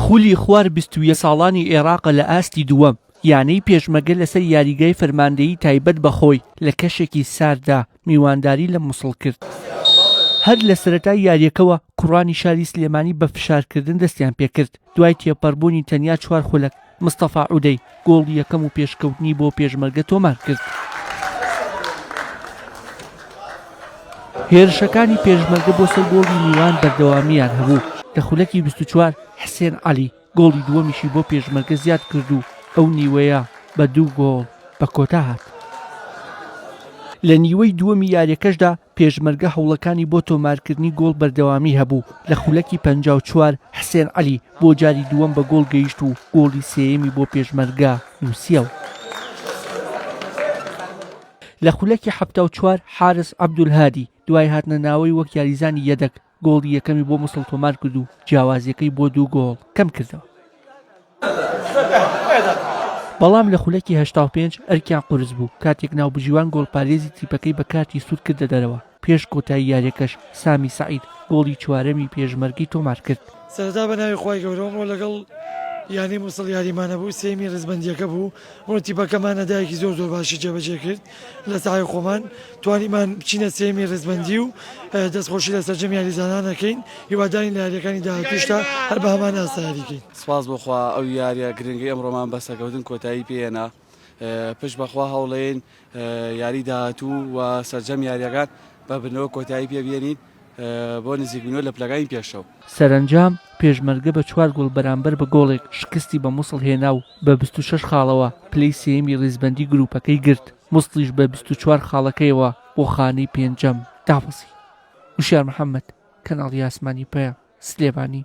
خولی خوار بیست و یەک ساڵانی ئێراقە لە ئاستی دووەم، یانەی پێشمەگە لەسەر یاریگای فەرماندەیی تایبەت بە خۆی لە کەشێکی سارددا میوانداری لە موسڵ کرد. هەر لە سەرەتای یارییەکەوە کوڕانی شاری سلێمانی بە فشارکردن دەستیان پێکرد، دوای تێپەڕبوونی تەنیا چوار خولەک، مستەفا عودەی گۆڵی یەکەم و پێشکەوتنی بۆ پێشمەرگە تۆمارکرد. هێرشەکانی پێشمەرگە بۆ سەر گۆڵی میوان بەردەوامییان هەبوو، لە خولەکی بیست و چوار حسێن عەلی گۆڵی دووەمیشی بۆ پێشمەرگە زیاد کرد و ئەو نیوەیە بە دوو گۆڵ بە کۆتا هات. لە نیوەی دووەمی یارییەکەشدا پێشمەرگە هەوڵەکانی بۆ تۆمارکردنی گۆڵ بەردەوامی هەبوو، لە خولەکی پەنجا و چوار حسێن عەلی بۆ جاری دووەم بە گۆڵ گەیشت و گۆڵی سێیەمی بۆ پێشمەرگە نووسیەوە. لە خولەکی حەفتا و چوار حارس عەبدولهادی دوای هاتنە ناوەی وەک یاریزانی یەدەگ، گۆڵی یەکەمی بۆ موسڵ تۆمار کرد و جیاوازیەکەی بۆ دوو گۆڵ کەم کردەوە. بەڵام لە خولەکی هەشتا و پێنج ئەرکیان قورس بوو کاتێک ناوبژیوان گۆڵپارێزی تیپەکەی بە کارتی سوور کردە دەرەوە، پێش کۆتایی یاریەکەش سامی سەعید گۆڵی چوارەمی پێشمەرگەی تۆمار کرد. سەرەتا بەناوی خوای گەورە ئەمڕۆ لەگەڵ یانەی موسڵ یاریمانەبوو سێیەمی ڕیزبەندیەکە بوو بۆ تیپەکەمان ئەدایەکی زۆر زۆر باشی جێبەجێ کرد لە ساحەی خۆمان توانیمان بچینە سێیەمی ڕیزبەندی و دەستخۆشی لە سەرجەم یاریزانان ئەکەین هیوادارین لە یاریەکانی داهاتووشدا هەر بە هەمان ئاستا یاری کەین. سپاس بۆ خوا ئەو یاریە گرنگەی ئەمڕۆمان بە سەکەوتن کۆتایی پێ هێنا پشت بەخوا هەوڵێین یاری داهاتوو و سەرجەم یاریەکان بە بردنەوە کۆتایی پێ بێنین بۆ نزیکبوونەوە لە پلەکانی پێشەوە. سەرەنجام، پێشمەرگە بە چوار گۆڵ بەرامبەر بە گۆڵێک شکستی بە موسڵ هێنا و بە بیست و شەش خاڵەوە پلەی سێیەمی ریزبەندی گروپەکەی گرت، موسڵیش بە بیست و چوار خاڵەکەیەوە بۆ خانەی پێنجەم دابەزی. وشیار محەمەد، کەناڵی ئاسمانی پەیام، سلێمانی.